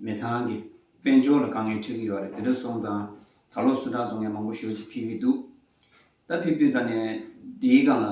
མི་ཚང་གི་དཔལ་འབྱོར་ལ་དཀའ་ངལ་འཕྲད་ཀྱི་ཡོད་རེད་དེ་འདྲ་སོང་ཙང་ད་ལོ་སུ་དྲག་བཙོང་མཁན་མང་པོ་ཞོལ་གྱི་ཕེབས་ཀྱི་འདུག་ད་ཕེབས་དུས་ད་ནས་དེའི་སྒང་ལ་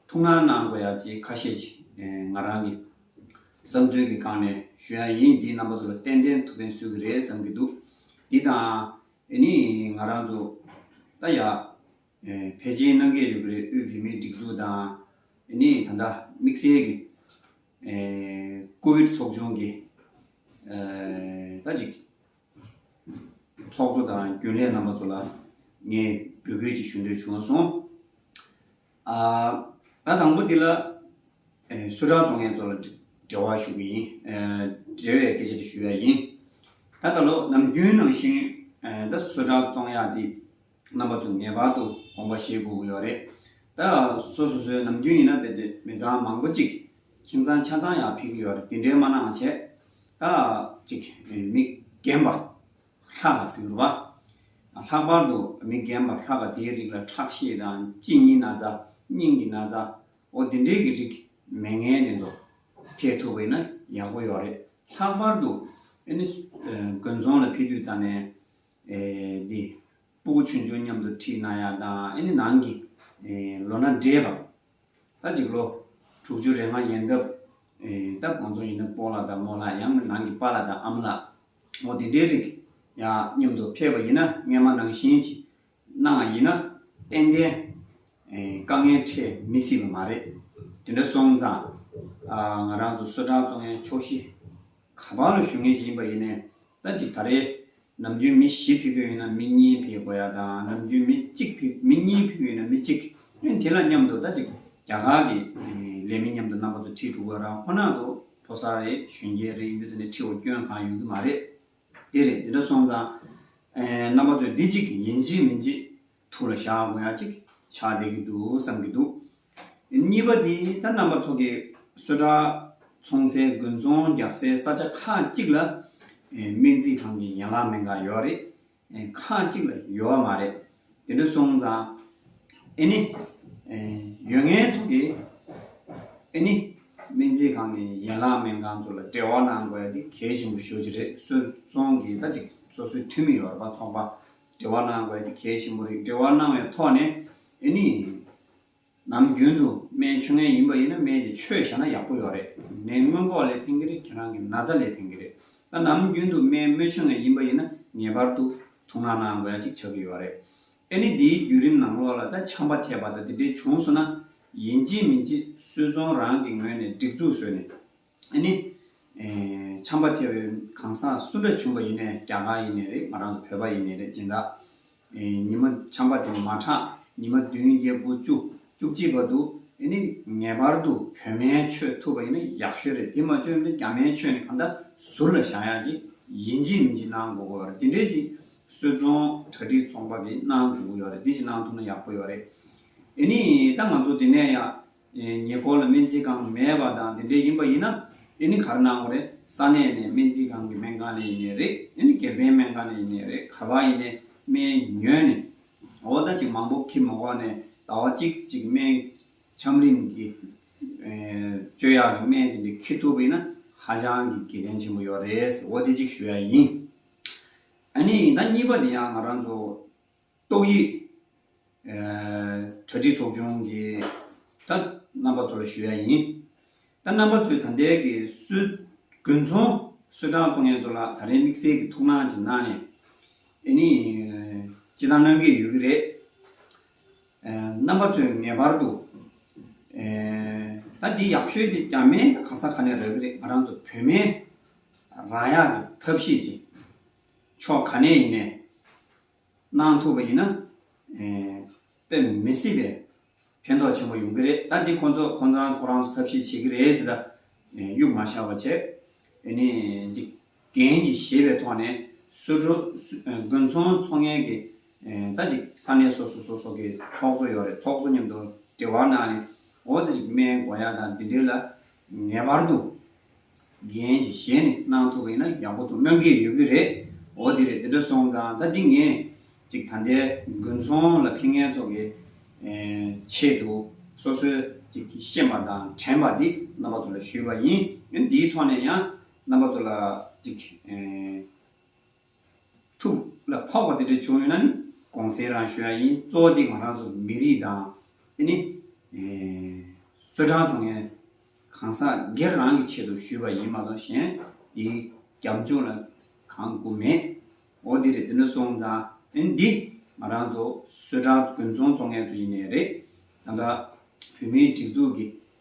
ཐུགས་སྣང་གནང་དགོས་ཡ་ཅེས་ཁ་ཤས་ཀྱིས་ང་རང་གི་བསམ་ཚུལ་གྱི་སྒང་ནས་ཞུ་ཡ་ཡིན་འདིའི་རྣམ་པ་ཚོ་ལ་ཏན་ཏན་ཐུགས་ཕན་གསོས་ཀྱི་རེད་བསམ་གྱི་འདུག་འདི་དང་ཨེ་ནི་ང་རང་ཚོ་ད་ཡ། བལ་གཅིག་གནང་གི་ཡོད་པ་རེད་དབུས་བོད་མིའི་སྒྲིག་འཛུགས་དང་ནི་ད་ལྟ་དམིགས་བསལ་གྱི་ཀོ་བིད་ཚོགས་ཆུང་གི་ད་ཅིག་ཚོགས་གཙོ་དང་རྒྱུན་ལས་རྣམ་པ་ཚོ་ལ་ངས་འབོད་སྐུལ་ཅིག་ཞུ་འདོད་བྱུང་སོང། ད་དང་པོ་འདི་ལ་སུ་གྲགས་ཚོ་ངས་ཚོ་ལ་འབྲེལ་བ་ཞུ་གི་ཡིན། འབྲེལ་བའི་སྐད་ཆ་དེ་ཞུ་ཡ་ཡིན། ད་ད་ལོ་ནམ་རྒྱུན་ནང་བཞིན་ད་སུ་གྲགས་ཚོང་ཡག་འདི། རྣམ་པ་དུ་ངེས་པར་དུ་དགོངས་པ་བཞེས་དགོས་ཀྱི་ཡོད་རེད། ད་གཟོད་སོ་སོའི་ནམ་རྒྱུན་ཡིན་ན་དཔེ་དེབ་མི་ཚང་མང་པོ་གཅིག་ཁྱིམ་ཚང་ཆ་ཚང་ཡང་ཕིག་གི་ཡོད་རེད་དེ་འདྲའི་མ་གནང་བྱས་ད་ཅིག་མི་རྒན་པ་ལྷ་ལ་ཟེར་བ། ལྷག་པར་དུ་མི་རྒན་པ་ལྷ་པ་དེའི་རིགས་ལ་ཁྲག་ཤེད་དང་གཅིན་སྙི་ན་ཚ་སྙིང་གི་ན་ཚ་འོ་དེ་འདྲའི་གི་རིགས་མེད་ངན་དེ་ཚོ་ཁེལ་ཐུབ་པ་ཡིན་ན་ཡག་པོ་ཡོད་རེད། ལྷག་པར་དུ་ཨ་ནི་དགོན་ཚོང་ལ་ཕེབས་དུས་ཙང་ནས། འདི། སྤུ་གུ་ཆུན་ཆུན་མཉམ་དུ་འཁྲིལ་ན་ཡང་དང་ཨེ་ནི་ནང་གི། ལོ་ན་བགྲེས་པ། ད་ཅིག་ལོ། དྲུག་ཅུ་རེ་ལྔ་ཡན་འདབ། སྟབས་གང་ཚོ་ཡིན་ན་སྤོ་ལ་དང་མོ་ལ་ཡང་ན་ནང་གི་པ་ལ་དང་ཨམ་ལ། མོ་འདི་འདྲའི་རིགས། ཡ། མཉམ་དུ་ཕེབས་པ་ཡིན་ན་རྔན་མ་ནང་བཞིན་གྱི། གནང་བ་ཡིན་ན། ཏན་ཏན། དཀའ་ངལ་འཕྲད་མི་སྲིད་པ་མ་རེད། དེ་འདྲ་སོང་ཙང། ང་རང་ཚོ་བསོད་བཀྲག་བཙོང་ཡ་ཕྱོགས་བཞི། ག་པང་ལ་ཞུ་ངེས་ཀྱི་ཡིན་པ་ཡིན་ནས། ལྟ་གཅིག་ད་རེས་ནམ་རྒྱུན་མི་བཞི་ཕིག་གི་ཡོད་ན་མི་གཉིས་ཕིག་དགོས་ཡ་དང་ནམ་རྒྱུན་མི་གཅིག་ཕིག་མི་གཉིས་ཕིག་གི་ཡོད་ན་མི་གཅིག་ཨེ་དེ་ལ་མཉམ་དུ་ལྟ་གཅིག་རྒྱ་གར་གི་ལས་མི་མཉམ་དུ་རྣམ་པ་ཚོ་ཁྲི་དྲུག་ག་རང་ཁོ་ན་ཚོ་ཕོ་གསར་རེད་གཞོན་སྐྱེས་རེད་ཡིན་དུས་ད་ནི་ཁྲི་བོ་སྐྱོན་གང་ཡོད་ཀྱི་མ་རེད་དེ་རེད་དེ་འདྲ་སོང་ཙང་རྣམ་པ་ཚོས་འདི་གཅིག་ཡིན་གཅིག་མིན་གཅིག་ཐུགས་ལ་ཞག་གོ་ཡག་ཅིག་ཆགས་བསྡད་ཀྱི་འདུག་བསམ་གྱི་འདུག་གཉིས་པ་དེ་ད་རྣམ་པ་ཚོ་གི་གསོལ་གྲགས་འཚོང་སའི་དགུན་ཚོང་རྒྱག་སའི་ས་ཆ་ཁག་གཅིག་ལ་སྨན་རྩིས་ཁང་གི་ཡན་ལག་མེད་འགའ་ཡོད་རེད་ཁག་གཅིག་ལ་ཡོད་མ་རེད་དེ་འདྲ་སོང་ཙང་ཨེ་ནི་ཡོད་ངན་ཚོ་གི་ཨེ་ནི་སྨན་རྩིས་ཁང་གི་ཡན་ལག་མེད་འགའ་ཚོ་ལ་འབྲེལ་བ་གནང་དགོས་ཡ་དེ་གལ་ཆེན་པོ་ཞོ་ཅི་རེད་གསོལ་འཚོང་གི་ད་ཅིག་སོ་སོའི་འཐུས་མི་ཡོད་རེད་པ་ཚོགས་པ། འབྲེལ་བ་གནང་བའི་གལ་ཆེན་པོ་རིགས་འབྲེལ་བ་གནང་བའི་ཐོག་ནས་ཨེ་ནི། ནམ་རྒྱུན་དུ་སྨན་ཆུ་ངན་ཡིན་པ་ཡིན་ན་སྨན་དེ་ཆོས་བཞག་ན་ཡག་པོ་ཡོད་རེད་ངའི་སྔོན་འགོག་ལས་ཕན་གྱི་རེད་ཁྱེད་རང་གི་ན་ཚ་ལས་ཕན་གྱི་རེད་ད་ནམ་རྒྱུན་དུ་སྨན་རྨོད་ཆུ་ངན་ཡིན་པ་ཡིན་ན་ངེས་པར་དུ་ཐུགས་སྣང་གནང་དགོས་ཡ་གཅིག་ཆགས་ཀྱི་ཡོད་རེད་ཨེ་ནི་དེའི་བརྒྱུད་རིམ་ནང་ལོགས་ལ་ད་ཆམ་པ་ཐེབས་པ་ད་དེ་འདྲའི་བྱུང་སོང་ན་ཡིན་གཅིག་མིན་གཅིག་སུས་ཚོང་རང་གི་ངོས་ནས་སྒྲིག་འཛུགས་བཟོས་ནས་འདི་ནི། བྱམས་པ་ཐེ་བའི་གང་ཟག་སུ་འདྲ་བྱུང་བ་ཡིན་ནས་རྒྱ་གར་ཡིན་ནས་རེད་ང་རང་ཚོ་བོད་པ་ཡིན་ནས་རེད་སྦྱིན་བདག། ཉི་མ་བྱམས་པ་དེ་མ་གྲགས་ཉི་མ་བདུན་བརྒྱད་དགུ་བཅུ་བཅུ་གཅིག་པ་དུ་འདི་ནི་ངེས་པར་དུ་བོད་མའི་ཆོས་ཐུབ་པ་ཡིན་ན་ཡག་ཤོས་རེད་དེ་མ་བཅོས་ན་རྒྱ་མའི་ཆོས་ནི་གང་འདྲ་ཟུར་ལ་བཞག་ཡག་ཅིག་ཡིན་ཅིག་མིན་ཅིག་གནང་དགོས་ཀྱི་ཡོད་རེད་དེ་འདྲས་ཅིག་གསོལ་སྟོང་གྲ་སྒྲིག་ཚོགས་པ་གིས་གནང་དགོས་ཀྱི་ཡོད་རེད་དེ་ཅིག་གནང་ཐུབ་ན་ཡག་པོ་ཡོད་རེད། འདི་ནི་ད་ང་ཚོ་དེ་ནས་ཡང་ཉེ་འཁོར་ལ་སྨན་རྩིས་ཁང་མེད་པ་དང་དེ་འདྲས་ཡིན་པ་ཡིན་ན་དེ་ནི་གར་སྣང་བ་རེད་ས་གནས་ནས་སྨན་རྩིས་ཁང་གི་སྨན་ཁང་ནས་ཡིན་ནས་རེད་དེ་ནི་དགེ་ཕན་སྨན་ཁང་ནས་ཡིན་ནས་རེད་ག་བ་ཡིན་ནས་སྨན་ཉོས་ནས་འོ་ད་ཅིག་མང་པོ་ཁྱིམ་མ་བག་ནས་ད་བ་ཅིག་ཅིག་སྨན་ཆམ་རིམ་གྱི་སྤྱོད་ཡག་གི་སྨན་དེ་འདྲས་ཁྱེར་ཐུབ་པ་ཡིན་ན་ཧ་ཅང་གི་དགེ་ཕན་ཆེན་པོ་ཡོད་རེད་ཟེར་འོ་དེ་ཅིག་ཞུ་ཡ་ཡིན་ཨ་ནི་ཡིན་ད་གཉིས་པ་དེ་ཡང་ང་རང་ཚོ། ཏོག་དབྱིབས་གྲ་སྒྲིག་ཚོགས་ཆུང་གི་ཏང་རྣམ་པ་ཚོར་ཞུ་ཡ་ཡིན། ཏང་རྣམ་པ་ཚོས་ད་ལྟའི་གི་སྲོལ་དགུན་ཚོང་སྲོལ་གྲངས་ཐོ་ངན་ཚོ་ལ་ད་རེས་དམིགས་བསལ་གི་ཐུགས་སྣང་ཅིག་གནང་ནས་ཨེ་ནི་ཅི་ལྟར་གནང་གི་ཡོད་ཀྱི་རེད། རྣམ་པ་ཚོས་ངེས་པར་དུ་ད་འདི་ཡག་ཤོས་དེ་གྱ་མེད་གང་ས་ག་ནས་རག་གི་རེད་ང་རང་ཚོ་བོད་མའི་རང་ཡག་གི་ཐབས་ཤེས་ཅིག་ཕྱོགས་ག་ནས་ཡིན་ནས་གནང་ཐུབ་པ་ཡིན་ན། དཔེ་མི་སྲིད་པའི་ཕན་ཐོགས་ཆེན་པོ་ཡོང་གི་རེད་ད། འདི་ཁོང་ཚོ་ཁོང་རང་ཁོ་རང་ཚོ་ཐབས་ཤེས་བྱེད་ཀྱི་རེད་ཟེར། གཡུག་མ་ཤ་བ་བྱས། དེ་ནས་འཇིག་རྟེན་གྱི་བཞེད་པའི་ཐོག་ནས་སུ་འགྲོ། དགུན་ཚོང་འཚོགས་མཁན་གྱི་ད་ཅིག་ས་གནས་སོ་སོ་སོ་སོ་གི་ཚོགས་གཙོ་ཡོད་རེད་ཚོགས་གཙོ་མཉམ་དུ་དྲི་བ་གནང་ནས་འོ་ད་ཅིག་སྨན་སྒོ་ཡ་དང་འདི་འདྲའི་ལ་ངེས་པར་དུ་རྒན་གྱི་ཞལ་ནས་གནང་ཐུབ་པ་ཡིན་ན་ཡག་པོ་འདུག་གནང་གི་ཡོད་ཀྱི་རེད། འོ་དེ་རེད་དེ་འདྲ་སོང་ཙང་ད་འདི་ངས་ཅིག་ད་ལྟའི་དགུན་ཚོང་ལ་ཕན་ངེས་ཐོག་གི་ཆེད་དུ་སོ་སོའི་ཅིག་ཤེས་པ་དང་དྲན་པ་འདི་རྣམ་པ་ཚོ་ལ་ཞུས་པ་ཡིན། འདིའི་ཐོག་ནས་ཡང་རྣམ་པ་ཚོ་ལ་ཅིག་ཐུགས་ལ་འཕགས་པ་དེ་འདྲ་བྱུང་ཡོད་ན་ནི་གོང་གསལ་རང་ཞུ་ཡ་ཡིན་གཙོ་བོ་དེ་ང་རང་ཚོ་མི་རིགས་དང་དེ་ནི་གསོལ་བསྒྲང་དང་ངའི་གང་ཟག་སྒེར་རང་གི་ཆེད་དུ་ཞུས་པ་ཡིན་མ་གཏོགས་གཞན་དེའི་རྒྱབ་ལྗོངས་ལ་གང་དགོས་མེད་འོ་དེ་རེད་དེ་འདྲ་སོང་ཙང་དེ་ནི་འདི་ང་རང་ཚོ་གསོལ་བསྒྲང་དགུན་ཚོང་ཚོང་མཁན་ཚོ་ཡིན་ནའི་རེད་ད་ལྟ་བོད་མིའི་སྒྲིག་འཛུགས་ཀྱི